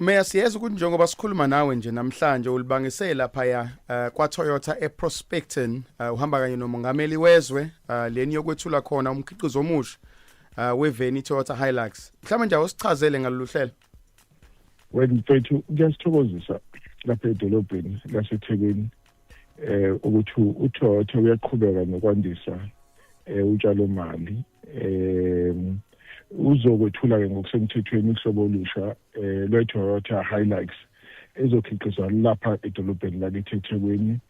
Meya siyeza ukuthi njengoba sikhuluma nawe nje namhlanje ulibangise lapha ya uh, eh, kwa Toyota eProspecton uh, eh, uhamba kanye nomongameli wezwe uh, leni yokwethula khona umkhiqizo omusha uh, weveni Toyota Hilux mhlawumbe nje awusichazele ngalolu hlelo wethu kuyasithokozisa lapha edolobheni laseThekwini eh ukuthi uThotha uyaqhubeka nokwandisa eh utshalo mali eh uzokwethula ke ngokusemthethweni uhlobo olusha eh lweToyota Hilux ezokhiqizwa lapha edolobheni lakithi eThekwini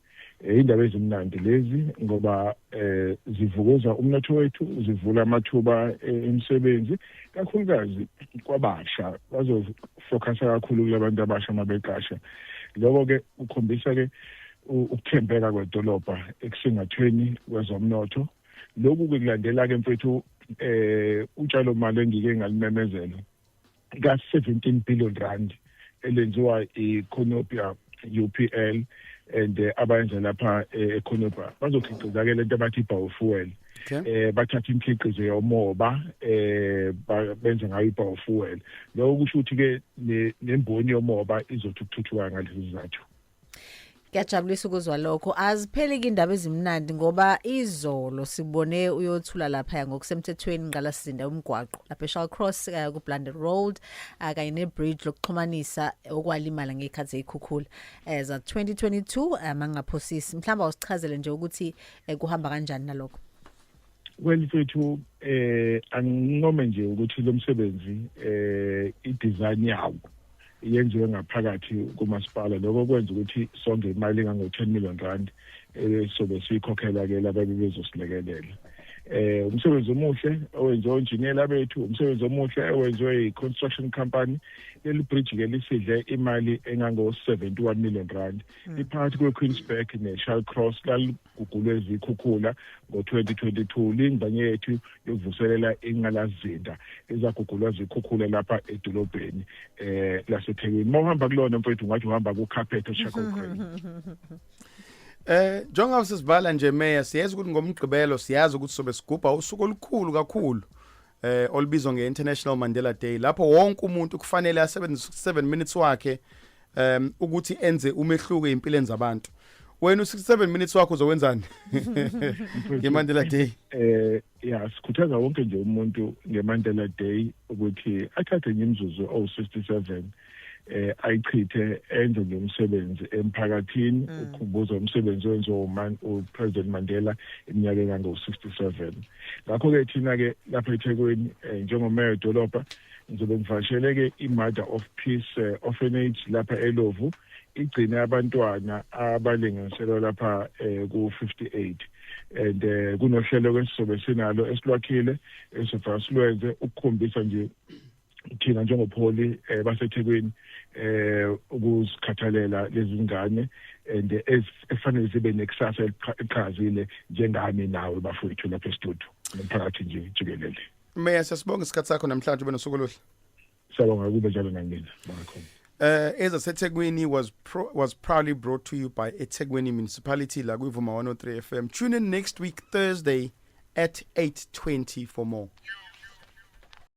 eh, indaba ezimnandi lezi ngoba eh zivukuza umnotho wethu zivula amathuba eh, emisebenzi kakhulukazi kwabasha focusa kakhulu kulabantu abasha mabeqasha lokho ke ukhombisa ke ukuthembeka kwedolobha ekusingathweni kwezomnotho lokhu ke kulandela ke mfethu eh utshalo mali engike ngalimemezela ka 17 billion rand elenziwa iConopia UPL and eh, abayenza lapha eh, eConopia bazokhiqiza ke lento abathi biofuel okay. eh bathatha imkhiqizo yomoba eh benze ngayo ibiofuel lokho kusho ukuthi ke nemboni yomoba izothi ukuthuthuka ngalezi zizathu Ngiyajabulisa ukuzwa lokho. Azipheli indaba ezimnandi ngoba izolo sibone uyothula lapha ngokusemthethweni ngqala sizinda umgwaqo lapha eShall Cross eh, ku Blunder Road eh, kanye ne bridge lokuxhumanisa okwalimala ngekhathi ezikhukhula. Eza 2022 amangaphosisi. Mhlamba usichazele nje ukuthi um kuhamba kanjani nalokho well mfethu eh angincome nje ukuthi lo msebenzi eh i-design yawo yenziwe ngaphakathi kumasipala lokho kwenza ukuthi songe imali engango-10 million rand esobe eh, siyikhokhela-ke lababe bezosilekelela eh umsebenzi omuhle owenziwe onjiniyela bethu umsebenzi omuhle owenziwe yi-construction company leli bridge-ke lisidle imali engango-71 million rand hmm. iphakathi kwequeensburg neshal cross lalugugulwe izikhukhula ngo-2022 lingxenye yethu yokuvuselela inqalazinda ezagugulwa zikhukhula lapha edolobheni um lasethekwini uma uhamba kulona mfowethu ungathi uhamba kukhaphethe eshakokweni Eh njengoba sisibhala nje meya siyazi ukuthi ngomgqibelo siyazi ukuthi sobe sigubha usuku olukhulu kakhulu eh olibizwa ngeInternational Mandela Day lapho wonke umuntu kufanele asebenzise 7 minutes wakhe um ukuthi enze umehluko empilweni zabantu wena u67 minutes wakho uzowenzani ngeMandela Day eh ya sikhuthaza wonke nje umuntu ngeMandela Day ukuthi athathe nje imizuzu owu67 eh ayichithe enze nje umsebenzi emphakathini mm. ukhumbuza umsebenzi wenziwa uman uPresident Mandela iminyaka engango 67 ngakho ke thina ke lapha eThekwini eh, njengomeya dolopha ngizobe ngivashele ke iMother of Peace eh, Orphanage lapha eLovu igcine abantwana abalinganiselwa lapha eh, ku-58 and eh, kunohlelo ke sizobe sinalo esilwakhile esivasilenze ukukhombisa nje thina njengopholi eh, baseThekwini eh ukuzikhathalela lezi zingane and efanele sibe nekusasa eliqhazile njengami nawe bafowethu lapha estudio nomphakathi nje jikelele Meya sasibonga isikhatsi sakho namhlanje ube nosuku oluhle Siyabonga kube njalo nangina bakhona Uh, as I said, Tegwini was pro, was proudly brought to you by Etegwini Municipality, Lagwivuma 103 FM. Tune in next week, Thursday at 8.20 for more.